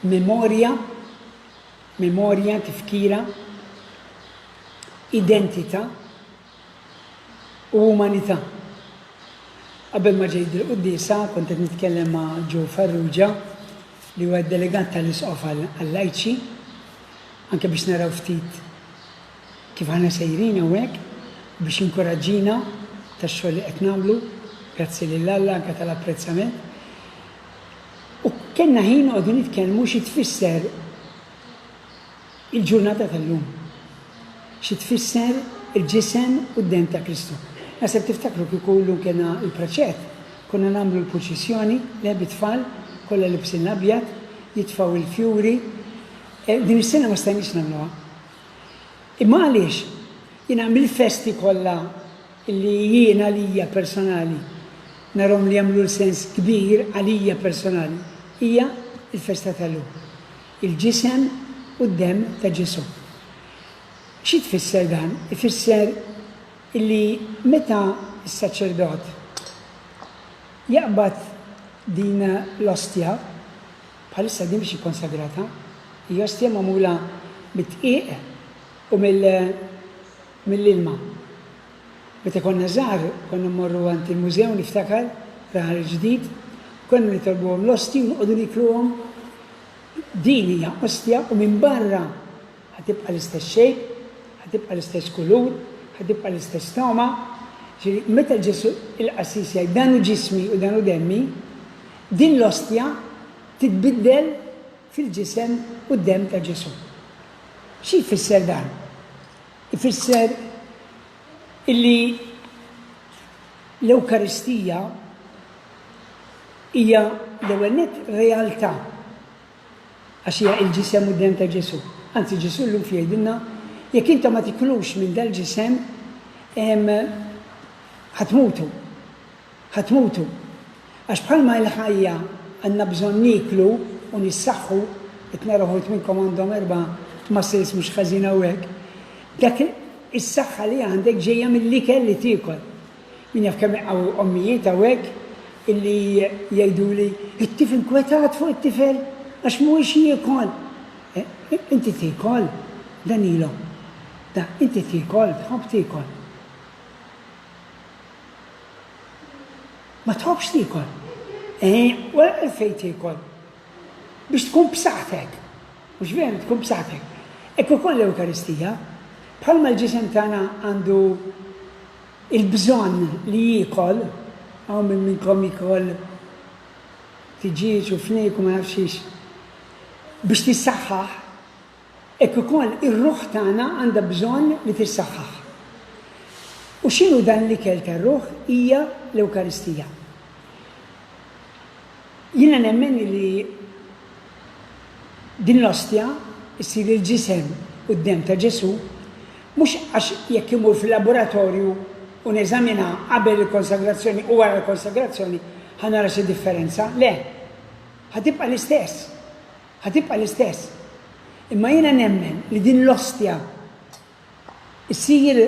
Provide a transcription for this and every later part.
Memorja, memorja, tifkira, identità u umanità. Qabel ma ġejt il-quddisa kont qed nitkellem ma' Joe Farrugia li huwa delegat tal-isqof għall-lajċi anke biex naraw ftit kif aħna sejrin hawnhekk biex inkuraġġina tax-xogħol li qed nagħmlu, grazzi lil Alla anke tal-apprezzament. U kellna ħin noqogħdu nitkellmu xi tfisser il-ġurnata tal-lum. Xi tfisser il-ġisem u d-demm ta' Kristu. Naħseb tiftakru kieku llum kellna l-praċet, konna nagħmlu l-purċissjoni, le bit-tfal, kollha libsin l-abjad, jitfgħu l-fjuri. Din is-sena ma stajniex nagħmluha. Imma għaliex? Jiena mill-festi kollha li jien għalija personali narhom li jagħmlu l-sens kbir għalija personali hija l-festa tal-lum. Il-ġisem u d-demm ta' Ġesù. Xi tfisser dan? Ifisser illi meta s-saċerdot jaqbad din l-ostja, Bħalissa din mhix ikkonsagrata. Hija ostja magħmula mid-dqiq u mill-ilma. Meta konna żgħar konna mmorru għand il-mużew niftakar, fl-Aħal il-Ġdid, konna nitolbuhom l-ostji u noqogħdu nikluhom. Din hija ostja u minn barra Ħa tibqa' l-istess shape, ħa tibqa' l-istess kulur, ħa tibqa' l-istess togħma. Ġifieri, meta Ġesù il-qassis jgħid, dan hu ġismi u dan hu demmi, din l-ostja titbiddel fil-ġisem u d-demm ta' Ġesù. Xi jfisser dan? Ifisser illi l-Ewkaristija hija l-ewwel nett realtà. Għax hija il-ġisem u d-demm ta' Ġesù. Anzi, Ġesù llum xi jgħidilna? Jekk intom ma tiklux minn dal-ġisem, ħa tmutu. Ħa tmutu. Għax bħalma il-ħajja għandna bżonn nieklu u nissaħħu, qed nara wħud minnkom għandhom erba' muscles mhux ħażin hawnhekk, dak is-saħħa li għandek ġejja mill-ikel li tiekol. Min jaf kemm hawn ommijiet hawnhekk illi jgħiduli, It-tifl inkwetat fuq it-tifel għax mhuwiex jiekol. Inti tiekol, Danilo? Da, inti tiekol, tħobb tiekol? Ma tħobbx tiekol? Eħe, u għalfejn tiekol? Biex tkun b'saħħtek. Mhux veru, tkun b'saħħtek. Hekk ukoll l-Ewkaristija, bħalma l-ġisem tagħna għandu Il-bżonn li jiekol, hawn minn minnkom jiekol tiġieġ u fniek u ma nafx xiex, biex tissaħħaħ, hekk ukoll ir-ruħ tagħna għandha bżonn li tissaħħaħ. U x'inhu dan l-ikel tar-ruħ? Hija l-Ewkaristija. Jiena nemmen li din l-ostja ssir il-ġisem u d-demm ta' Ġesù, mhux għax jekk imur fil-laboratorju u neżaminha qabel il-konsagrazzjoni u wara l-konsagrazzjoni ħa nara xi differenza, le, ħa tibqa' l-istess, ħa tibqa' l-istess. Imma jiena nemmen li din l-ostja Issir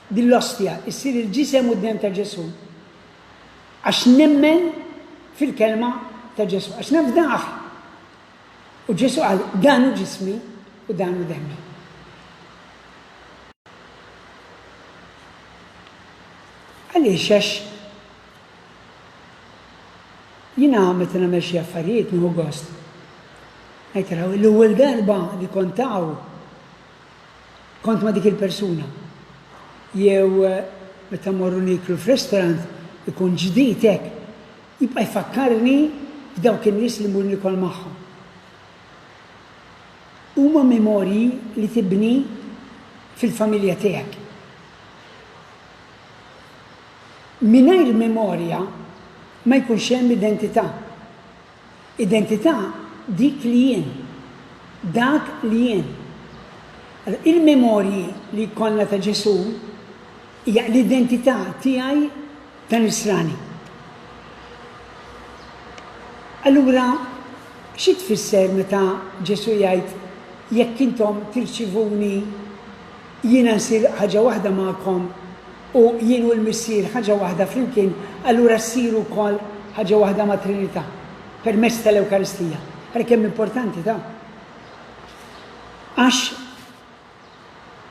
din l-Ostja, issir il-Ġisem u d-Demm ta' Ġesù għax nemmen fil-Kelma ta' Ġesù, għax nafdah. U Ġesù qal, Dan hu ġismi u dan hu demmi. Għaliex għax jiena meta nagħmel xi affarijiet nieħu gost. Ngħid l-ewwel darba li kont hawn kont ma' dik il-persuna. Jew meta mmorru nieklu f'ristorant ikun ġdid hekk, jibqa' jfakkarni b'dawk in-nies li mmur niekol magħhom. Huma memorji li tibni fil-familja tiegħek. Mingħajr memorja ma jkunx hemm identità. Identità dik li jien. Dak li jien. Il-memorji li jkollna ta' Ġesù hija l-identità tiegħi ta' Nisrani. Allura xi tfisser meta Ġesù jgħid, Jekk intom tirċivuni Jiena nsir ħaġa waħda magħkom, u jien u l-Missier ħaġa waħda flimkien, allura ssiru wkoll ħaġa waħda mat-Trinità, permezz tal-Ewkaristija. Ara kemm importanti dan! Għax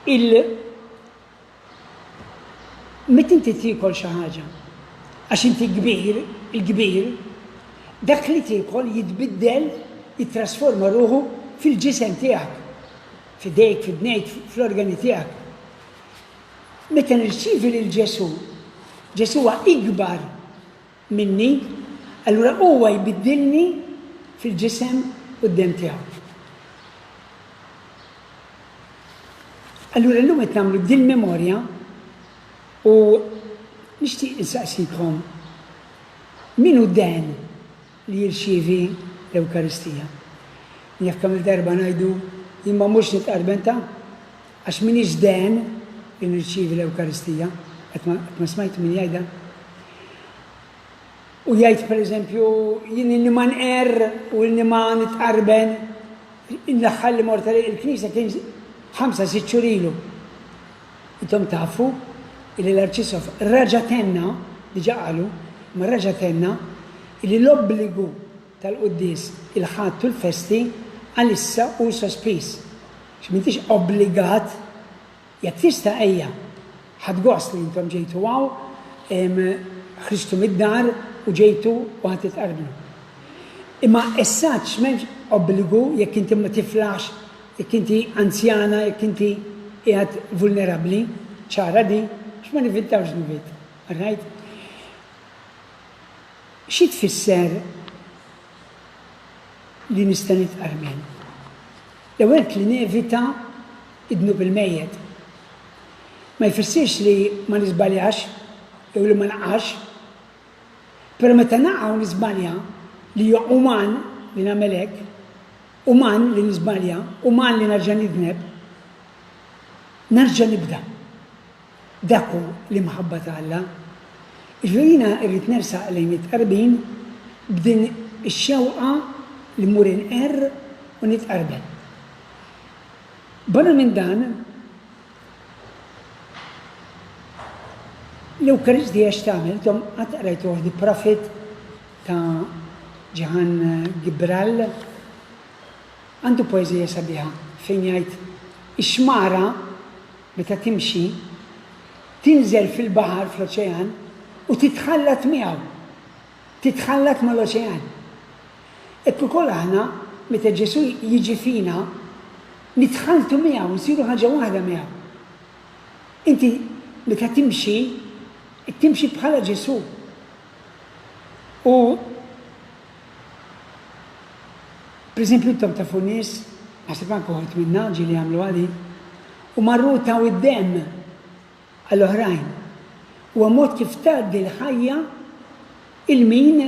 il meta inti tiekol xi ħaġa, għax inti kbir, il-kbir, dak li tiekol jitbiddel, jittrasforma ruħu fil-ġisem tiegħek. F'idejk, f'idnejk, fl-organi tiegħek. Meta nirċievi lil Ġesù, Ġesù huwa ikbar minni, allura huwa jbiddilni fil-ġisem u d-demm tiegħu. Allura llum qed nagħmlu din memorja u nixtieq insaqsikom min hu Dan li jirċievi l-Ewkaristija. Naf kemm-il darba ngħidu, Jien ma mmurx nitqarben ta' għax m'iniex dehen li nirċievi l-Ewkaristija. Qatt ma smajt min jgħidha. U jgħid pereżempju, jien inni ma nqerr u inni ma nitqarben, l-aħħar li mort il-Knisja kien ħamsa sitt xhur ilu. Intom tafu illi l-Arċisqof reġa' tenna, diġà qalu, imma reġa' tenna, illi l-obbligu tal-quddies il-Ħadd u l-festi għalissa hu sospiż. Għax m'intix obbligat. Jekk tista' ejja. Ħadt gost li intom ġejtu hawn, ħristu mid-dar u ġejtu u ħa titqarblu. Imma essaċ m'hemmx obbligu jekk inti ma tiflaħx Jekk inti anzjana, jekk inti qiegħed vulnerabbli, ċara di, għax ma nivvintawx dnubiet. All right? Xi tfisser li nista' nitqarmen? L-ewwel li nevita id-dnub il-mejjet. Ma jfissirx li ma niżbaljax jew li ma naqax. Però meta naqa' u niżbalja li huwa uman li nagħmel hekk, Uman li niżbalja, uman li nerġa' nidneb, nerġa' nibda. Dak hu l-imħabba ta' Alla. Jiġifieri jiena rrid nersaq lejn it-tqarbin b'din ix-xewqa li mmur inqerr u nitqarbel. Barra minn dan, l-Ewkaristija x'tagħmel? Intom qatt qrajtuha di profit ta' Jehan Gibrall, għandu poeżija sabiħa fejn jgħid, Ix-xmara, meta timxi, tinżel fil-baħar, fl-oċean, u titħallat miegħu, titħallat mal-oċean. Hekk ukoll aħna, meta Ġesù jiġi fina, nitħalltu miegħu, nsiru ħaġa waħda miegħu. Inti meta timxi, qed timxi bħala Ġesù. U pereżempju intom tafu nies, naħseb anke uħud minna ġieli għamluha din, u marru taw id-demm għal oħrajn. Huwa mod kif tgħaddi l-ħajja il min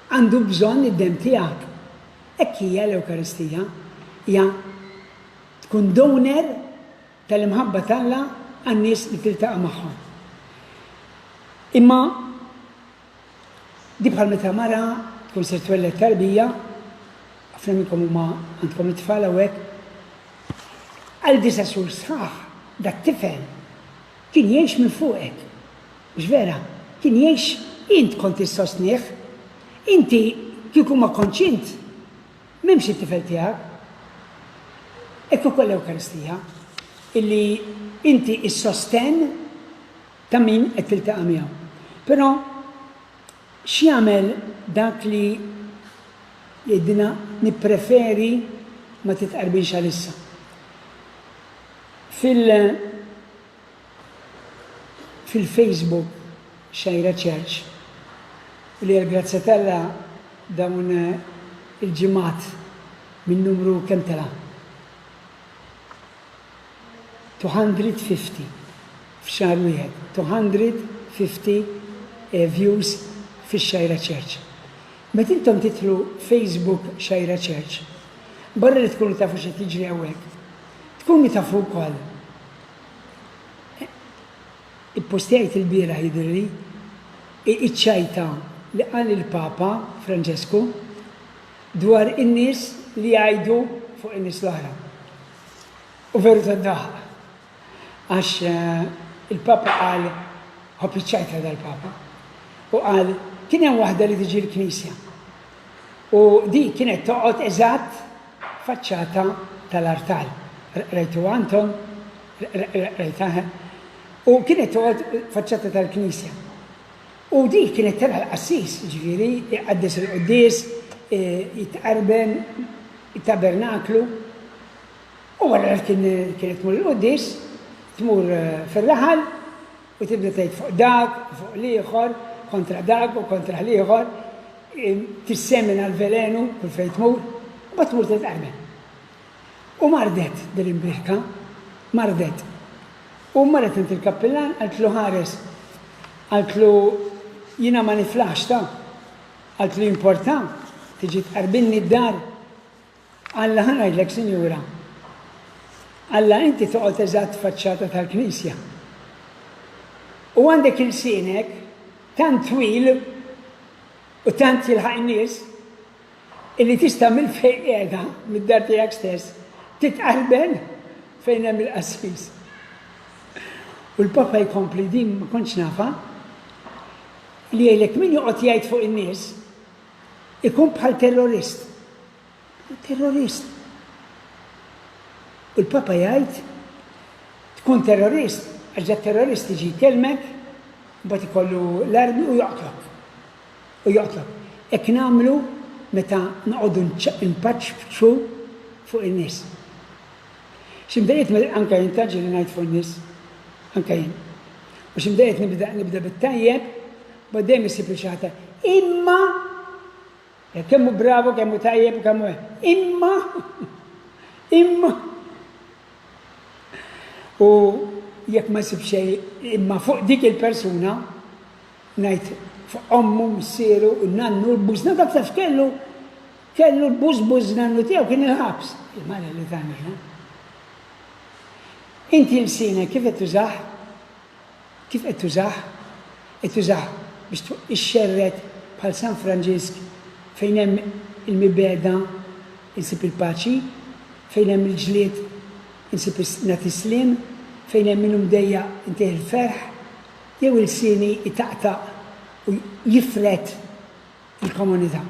għandu bżonn id-demm tiegħek. Hekk hija l-Ewkaristija, hija tkun donor tal-imħabba t'Alla għan-nies li tiltaqa' magħhom. Imma di bħal meta mara tkun ser twelled tarbija, ħafna minnkom huma għandkom it-tfal hawnhekk, għal disa' xhur sħaħ dat tifel kien jgħix minn fuqek. Mhux vera, kien jgħix int kont issostnih. Inti kieku ma kontx int, M'hemmx it-tifel tiegħek. Hekk ukoll l-Ewkaristija, illi inti s-sostenn ta' min qed tiltaqa' miegħu. Però x'jagħmel dak li jgħidilna nippreferi ma titqarbinx għalissa? Fil- Fil-Facebook Xajra Church, li għall-grazzja t'Alla dawn il-ġimgħat minn numru kemm tela'? 250 f'xahar wieħed, 250 views fix-Xajra Church. Meta intom tidħlu Facebook Xajra Church, barra li tkunu tafu x'qed jiġri hawnhekk, tkunu tafu wkoll, Ippostjajt ilbieraħ jidhirli iċ-ċajta li qal il-Papa Franġesku dwar in-nies li jgħidu fuq in-nies l-oħra. U veru tad-daħq. Għax il-Papa qal ħobb iċ-ċajta dal-Papa. U qal kien hemm waħda li tiġi l-Knisja. U dik kienet toqgħod eżatt faċċata tal-artal. Rajtuha intom? Rajtha, he? U kienet toqgħod faċċata tal-knisja. U dik kienet tara l-qassis, ġifieri, iqaddes il-quddies, e, jitqarben it-tabernaklu. U wara kienet tmur il-quddies, tmur eh, fir-raħal, u tibda tgħid fuq dak u fuq l-ieħor, kontra dak u kontra l-ieħor, tissemina l-velenu kull fejn tmur, u bat tmur titqarmen. U mardet din l-imbirka, mardet. U marret int il-kappillan għaltlu ħares, għaltlu jina ma niflax ta, għaltlu importa, tiġi tqarbinni d-dar, Alla, ħa ngħidlek, Sinjura, Alla inti toqgħod eżatt faċċata tal-Knisja. U għandek il-sinek tant twil u tant jilħaq in-nies illi tista' mill-fejn qiegħda mid-dar tiegħek stess titqalben fejn hemm il-qassis. U l-Papa jkompli din ma kontx nafa li jgħidlek min joqgħod jgħid fuq in-nies Ikun bħal terrorist. Terrorist. U l-Papa jgħid, tkun terrorist, għax da terrorist iġi jkellmek, mbagħad ikollu l-armi u joqtlok. U joqtlok. Hekk nagħmlu meta noqogħdu npaċċ f'ċu fuq in-nies. Ximdejjed anke jien taġġi li ngħid fuq in-nies, anke jien. U ximdejjed nibda nibda bit-tajjeb Bad dejjem isib li xi ħadd imma jekk kemm hu bravu, kemm hu tajjeb u kemm imma imma u jekk ma jsib xejn imma fuq dik il-persuna ngħid fuq ommu, missieru, nannu, l-bużna dak taf kellu kellu l-buż buż nannu tiegħu kien il-ħabs. Il-mara li tagħmilha. Inti l-sina kif qed tużaħ Kif qed tużah? Qed tużah biex tfuq ix-xerred bħal San Franġisk fejn hemm il-mibegħda nsib il-paċi, fejn hemm il-ġlied insib nagħti s-sliem, fejn hemm min hu mdejjaq intih il-ferħ, jew ilsieni jtaqtaq u jifred il-komunità?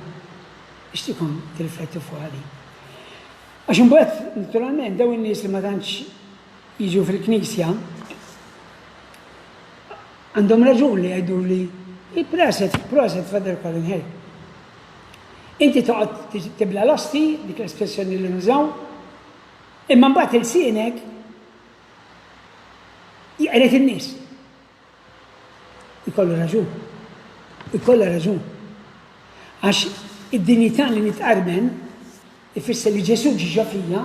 Nixtieqkom tirriflettu fuqha din. Għax imbagħad, naturalment, dawn in-nies li ma tantx jiġu fil-knisja, għandhom raġun li jgħiduli il-proset, proset Father Colin Hay. Inti toqgħod tibla l-osti, dik l-espressjoni li nużaw, imma mbagħad il-sienek jqret in-nies. Ikollu raġun. Ikollha raġun. Għax id-dinjità li nitqarben ifisser li Ġesù ġie ġo fija,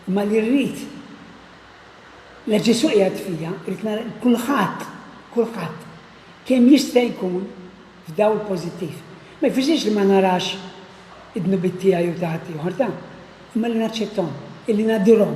imma li rrid la Ġesù qiegħed fija, rrid nara kulħadd, kulħadd, kemm jista' jkun f'dawl pożittiv. Ma jfissirx li ma narax id-dnubiet tiegħi u ta' ħaddieħor, ta', imma li naċċetthom, illi nadirhom.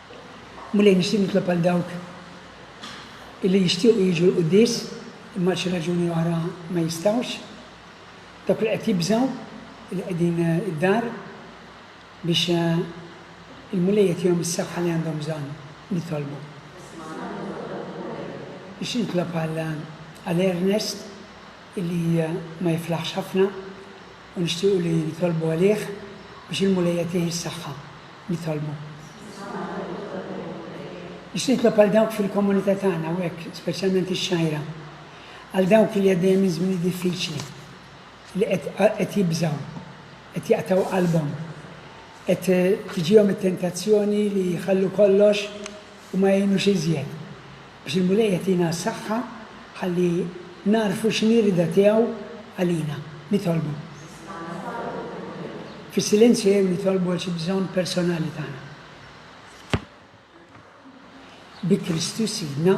Mulej, nixtieq nitlob għal dawk illi jixtiequ jiġu l-quddies imma għal xi raġuni oħra ma jistgħux, dawk li qed jibżgħu li qegħdin id-dar biex il-Mulej jagħtihom is-saħħa li għandhom bżonn. Nitolbu. Biex nitlob għal Ernest illi ma jiflaħx ħafna u nixtiequ li nitolbu għalih biex il-Mulej jagħtih is-saħħa. Nitolbu. Biex nitlob għal dawk fil-komunità tagħna hawnhekk, speċjalment ix-xgħira, għal dawk li għaddejja minn żminijiet diffiċli, li qed qed jibżgħu, qed jaqtgħu qalbhom, qed tiġihom it-tentazzjoni li jħallu kollox u ma jgħinux iżjed. Biex il-Mulej jagħtina s-saħħa ħalli nagħrfu x'inhi r-rieda tiegħu għalina. Nitolbu. Fis-silenzju jew nitolbu għal xi bżonn personali tagħna. Bi Kristu Sidna.